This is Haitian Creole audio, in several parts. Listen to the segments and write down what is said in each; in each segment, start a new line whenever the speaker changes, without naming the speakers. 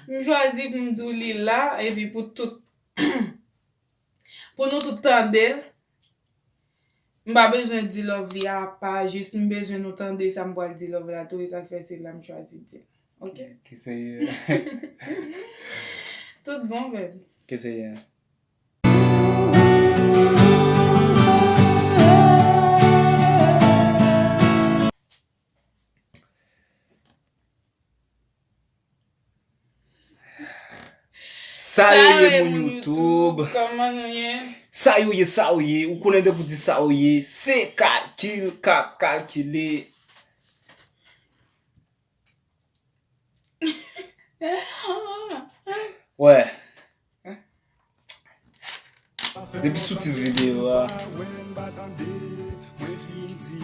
M chwazi pou m di w li l la epi pou tout pou nou tout tande l. M pa bezwen di love li a apa jis m bezwen nou tande sa m pral di love la tou e sa k fè se la m chwazi di l. Ok. Ki se Tout bon baby. Ki se ye.
Sa yo ye moun YouTube Koman nou ye
Sa yo ye sa yo ye
Ou konnen de pou di sa yo ye Se kalkil kap kalkile Wè Depi sou tit videyo a,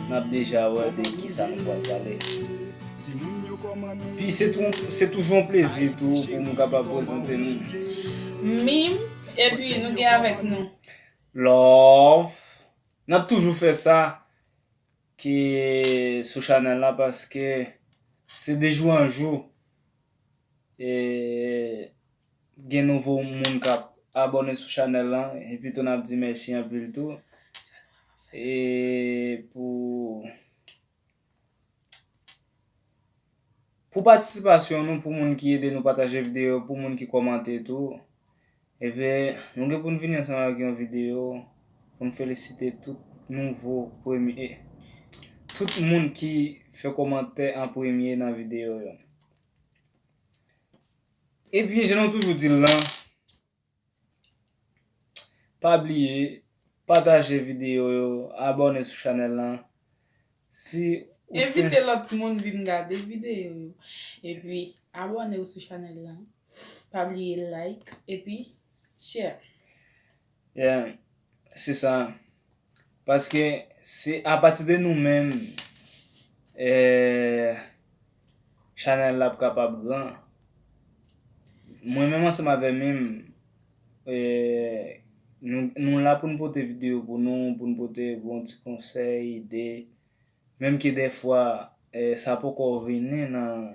n ap deja wè de ki sa nou pral pale. Pi se toujou yon plezi tou pou m kapab prezante nou. Mim,
epi nou gen avèk nou. Love.
N ap toujou fè sa ki sou chanèl la paske se de jou an jou e. Gen nouvo moun kap abòne sou chanèl lan epi tou nap di mèsi anpil tou e pou pou patisipasyon nou pou moun ki ede nou pataje videyo pou moun ki kòmante tou epi nou gen poun vini ansanm avèk yon videyo poun felisite tout nouvo premye tout moun ki fè kòmantè an premye nan videyo yo. Ebyen jan nou toujou dil lan pa bliye pataje video yo abòne sou chanèl lan si ou se Envite
lòt moun vin gade video yo epi abòne sou chanèl lan pa bliye like epi share.
Yeah, se sa. Paske se apati de nou menm chanèl la ap kapab gran. Mwen menm ansanm avè mim nou la pou nou pote videyo pou nou, pou nou pote bon ti konsèy, ide. Menm ke dèfwa sa poko vini nan.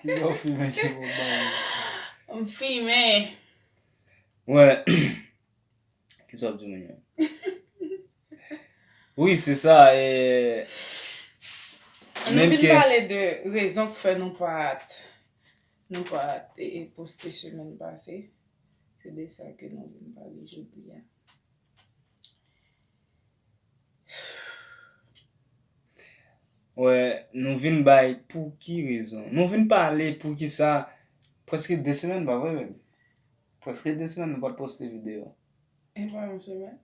Ki sa ou fimen ki bon bay ou? M
fimen. Mwen,
ki sa w ap di moun yo? Wi, se sa e.
An nou vin pale de
rezon
k fè nou pa t, nou pa t e poste semèn pase. Se de sa ke nou vin pale jodi a.
Wè, nou vin bay pou ki rezon? Nou vin pale pou ki sa preske 2 semèn pa vre baby? Preske 2 semèn nou pat poste video. E pa
yon semèn?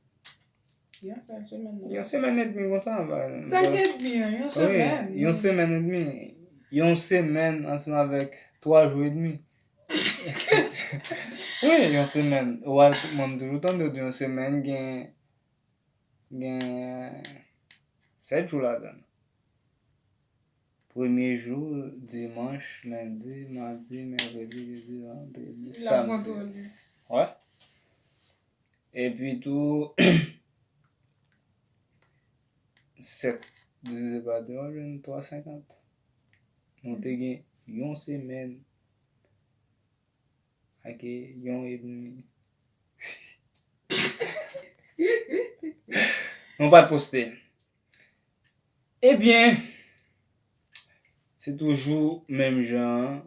Yon
sèl semèn nou. Yon semèn edmi konsa. 5 edmi
an, yon semèn. Wi, yon semèn edmi.
Yon semèn ansanm avèk 3 jou edmi. Wi yon semèn ou al mwen m toujou tande w di yon semèn gen gen 7 jou ladan l. Premye jou dimanch, lendi, madi, mèkredi, jedi, vandredi, samdi. Wè? Epi tou 7 divize pa 2 wap jwenn 350. Nou te gen yon semèn Ak yon edmi. Mwen pa t poste. Ebyen, se toujou menm jan an.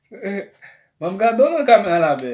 Mwen ap gade w nan kamera la bè.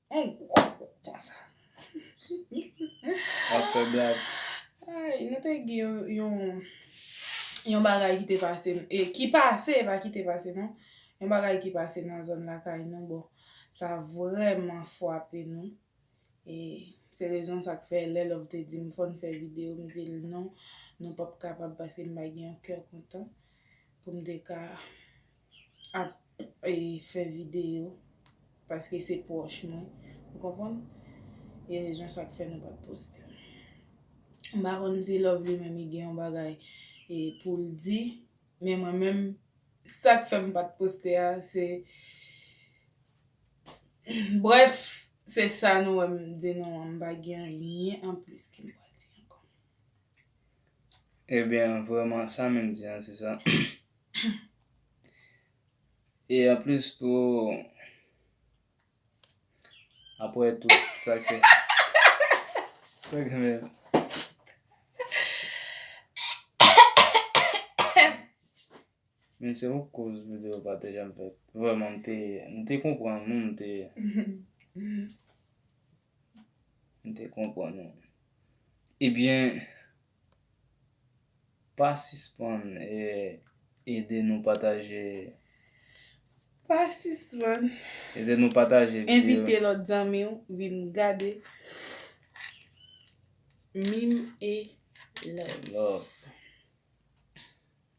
On gwo
kout konsa. Wap fè blag. Ayy nou
te gen yon yon bagay ki te pase e ki pase e pa ki te pase non. Yon bagay ki pase nan zòn lakay nou bon sa vrèman fwape nou e se rezon sa k fè lè Love te di m fò n fè videyo m di l non nou pap kapab paske m pa gen yon kè kontan pou m te ka ap fè video paske se pwòch mwen ou konprann e rezon sa k fè nou pa t poste m pa konn si Love li menm li gen yon bagay pou l di men mwen menm sa k fè m pa t poste a se brèf se sa nou wè m di nou an m pa gen anyen anplis ke m pral di ankò.
Ebyen vrèman sa menm di an se sa. E anplis tou, apre tout sa ke, sa ke men. Men se yon koz video pa te janm fèt. Vreman m te, m te konprann nou, m te. M te konprann nou. Ebyen. Pa sispann ede nou pataje
Pa sispann ede nou
pataje videyo Envite lòt zanmi w
vin gade Mime et Love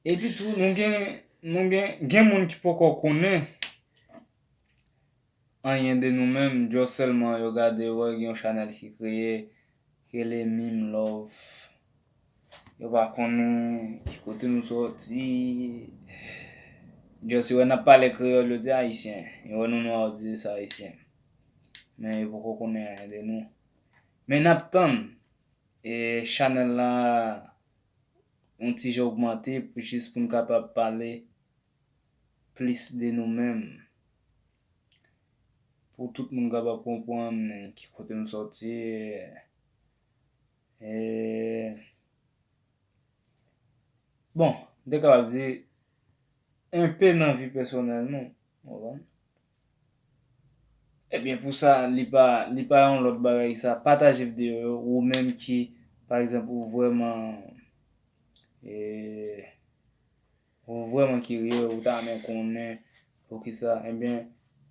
Epitou nou gen Gen moun ki poko konnen Anyen de nou menm just selman yo gade wè gen yon chanel ki kreye ki rele mim love yo pa konnen ki kote nou soti just yo wè nap pale kreyol yo di ayisyen yo wè nou nwa yo di se ayisyen men yo poko konnen anyen de nou men nap tann e chanel la yon ti jan ogmante pou jis poun kapab pale plis de nou menm pou tout moun kapab konprann ki kote nou sòti e bon m te kapab di enpe nan vi pèsonèl nou konprann e byen pou sa li pa li pa yon lòt bagay sa pataje videyo yo ou menm ki pa egzanp ou vrèman e. Ou vrèman kirye, ou ta renmen konnen poukisa, enben,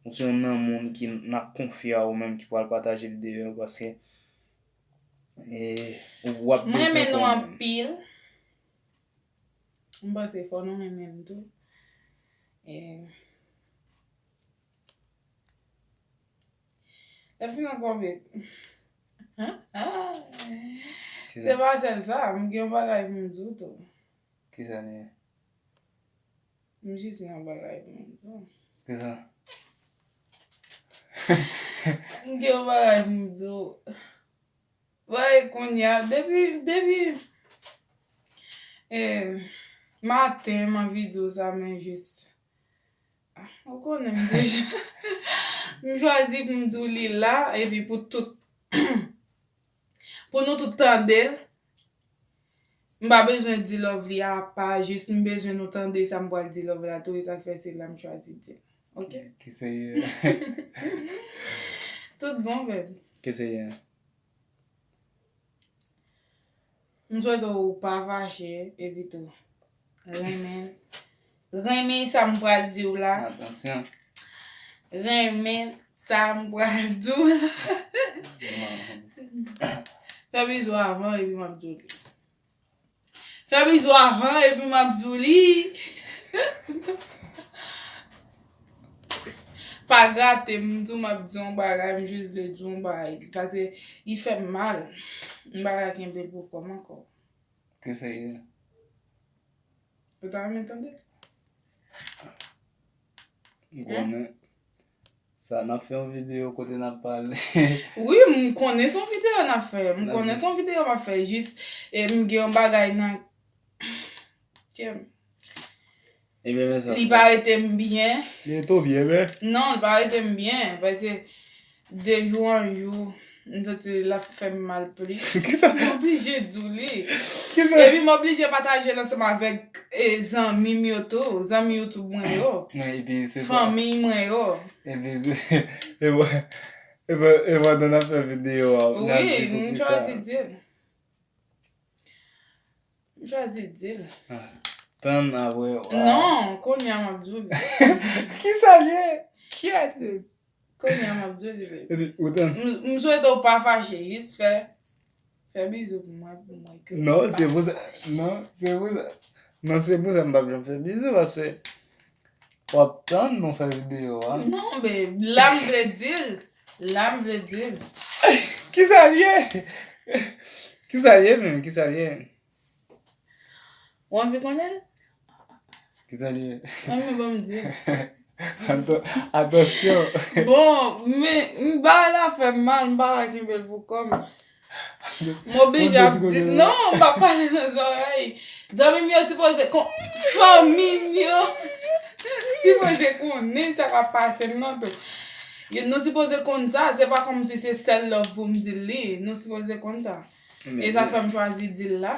ou se youn nan moun ki n ap konfye a ou menm ki pral pataje videyo an paske ou ap bezwen konnen. M renmen nou anpil.
M panse fò nou renmen m tou. Lèfini an kòve. Se pa sèl sa, m gen yon bagay pou m di w tou. Kisa li ye? M jis gen yon bagay pou m di w. Kisa? M gen yon bagay pou m di w. Woy kounye a, depi, depi e maten m anvi di w sa men jis ou konnen m deja. M chwazi pou m di w li la epi pou tout. Pou nou tout tandel M pa bezwen di Lovely a apa jis m bezwen nou tande sa m pral di Lovely a tou e sak fè se la m chwazi dil ok Ki se Tout bon babe Ki se M swete w ou pa fache epi tou renmen renmen sa m pral di w la. Atansyon. Renmen sa m pral di w la. Fè bizou avan epi m ap di w li. Fè bizou avan epi m ap di w li. Pa grate m, m di w m ap di yon bagay, m jis vle di w yon bagay. Pase li fè m mal. M pa ka kenbe l pou kò m ankò. Ke Senyè.
Ou
ta renmen tande?
M konnen. Sa n ap fè yon videyo kote n ap pale. Wi, m
konnen se yon videyo n ap fè. M konnen se yon videyo m ap fè. Jis m gen yon bagay nan kè m. Ebyen
men
sa. Li
pa rete
m byen.
Li
rete w byen
men. Non li pa
rete m byen
paske
de jou an jou m santi l ap fè m mal plis. Kisa. M oblije
di w li.
Kisa. Epi
m oblije
pataje l ansanm avèk zanmi m yo tou. Zanmi youtube mwen yo. Epi se sa. Fanmi
mwen yo.
Epi
e pandan n ap fè videyo a. Wi m chwazi
di l. M chwazi di l. Tann
apre w a. Non, kounye
a m ap di w li. Kisa
l ye? Kyèt! Kounye a m ap
di w li baby. Ou tann.
M swete w pa
fache, jis fè fè bizou pou mwen pou mwen ke. Non, se pou sa.
Non, se pou sa. Non, se pou sa m p ap janm fè bizou paske. Wap tann nou fè video a. Non be la
m vle dil la m vle dil.
Kisa l ye? Kisa l ye menm kisa l ye? Ou anvi konnen l? Kisa l ye?
An nou banm dil.
Atansyon. Bon
men bagay la fèm mal m paka kenbe l pou kòm. M oblije ap di, non m pa pale nan zòrèy. Zanmi m yo sipoze kon, fanmi m yo sipoze konnen sa k ap pase m nan tou. Nou sipoze konn sa, se pa kòmsi se sèl love pou m di l li, nou sipoze konn sa. E sa fè m chwazi di l la.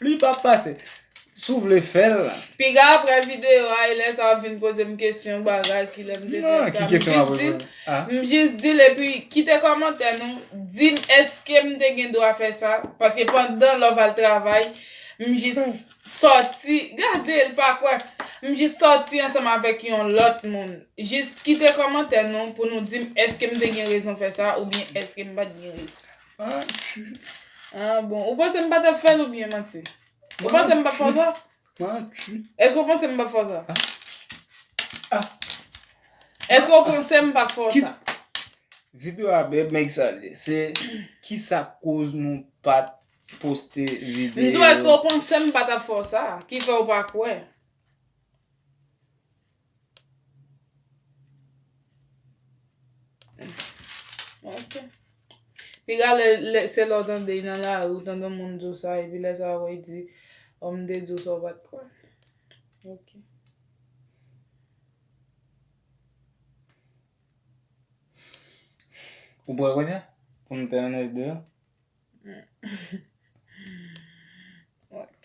Li
pap pase. Si w vle fè l. Piga aprè
video a e lè sa wap vin poze m kesyon bagay ki lè m te fè sa. Ki kesyon wap poze
m? M jis di l epi
kite kòmantè nou di m eske m te gen dwa fè sa paske pandan love al travay m jis sòti gade l pa kwè m jis sòti ansanm avèk yon lòt moun jis kite kòmantè nou pou nou di m eske m te gen rezon fè sa oubyen eske m pat gen rezon.
Ah
bon, ou panse m pa tap fèl ou byen manti? Ou panse m pap fè sa? Manti. Eske ou panse m pap fè sa?
Ah.
Eske ou panse m pap fè sa?
Video a bèl men kisa l ye? Se kisa k koz nou pat poste video? M di w eske ou panse
m pa tap fè w sa? Ki fè ou pa kwè? Ok. Piga lè, lè se lè w tande nan la ou tande moun di w sa epi lè sa wè di ou m te di w sa ou pat kwè. Ok.
Ou bwè konya? Pou m te anèk de yo?
Ok.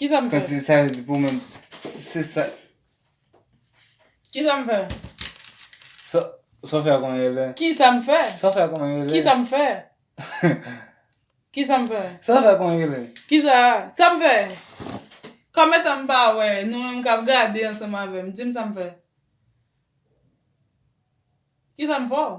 Kisa m fè? Kòmsi sa vle di pou mwen
se
sa.
Kisa m fè? Sa w fè a kòman yo rele? Kisa m fè? Sa w
fè a kòman yo rele? Kisa
m fè?
Kisa m fè? Sa w fè a kòman yo rele?
Kisa a? Sa m
fè? Kòmetan m pa wè nou menm k ap gade ansanm avè m. Di m sa m fè. Kisa m fè w?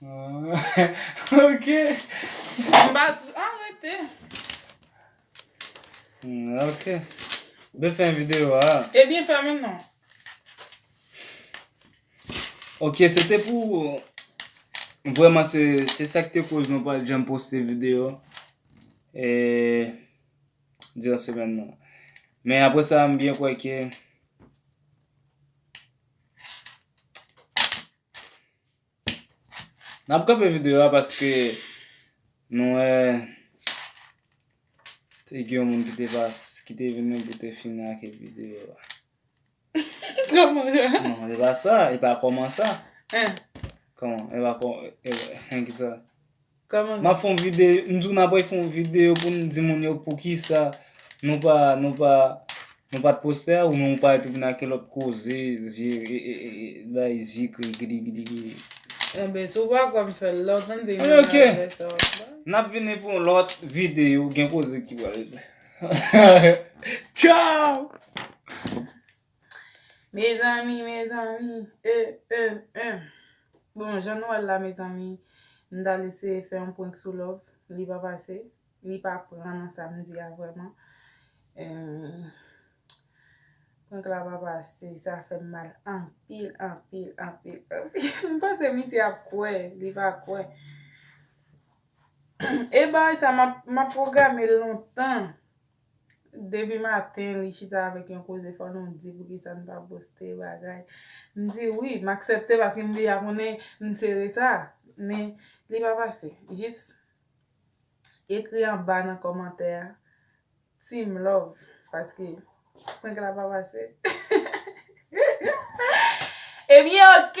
Ok.
Mba sou a rete.
Ok. Bel fè yon video a. E byen fè men non. Ok, se te pou... Vwèman se se sak te koz nou pa janm poste video. E... Diran semen nan. Men apre sa m byen kwè ke... N ap kanpe videyo a paske nou wè te gen yon moun ki te pas, ki te vin pou te fini ak videyo a.
Kòman sa? Non, e pa sa,
e pa kòman sa.
Kòman? E
pa kòman, e, e ki sa? Kòman
map fon video m di w
nap refon video pou nou di moun yo poukisa nou pa nou pa nou pat postè a ou men ou pare tou vin ak yon lòt koze zye bay zye krigidi gidigidi. Anben
si w pa kwè m fè l la w tande yon bagay sa wap la. Ok
nap vini pou yon lòt video gen koze ki pral regle. Tchaww.
Mezanmi mezanmi eh eh eh Bon jan nou wèl la mezanmi m tal eseye fè yon prank sou love li pa pase li pa pran nan sam di a vrèman Prank la pa pase sa fèm mal anpil anpil anpil m panse misye ap kwè li pa kwè E bagay sa map pwograme l lontan. Depi maten li chita avèk yon koze fò nou di poukisa n pa poste bagay. M di wi, m aksepte paske m deja konnen m sere sa. Men li pa pase. Jis ekri anba nan kòmantè a Team love paske prank la pa pase. Ebyen ok!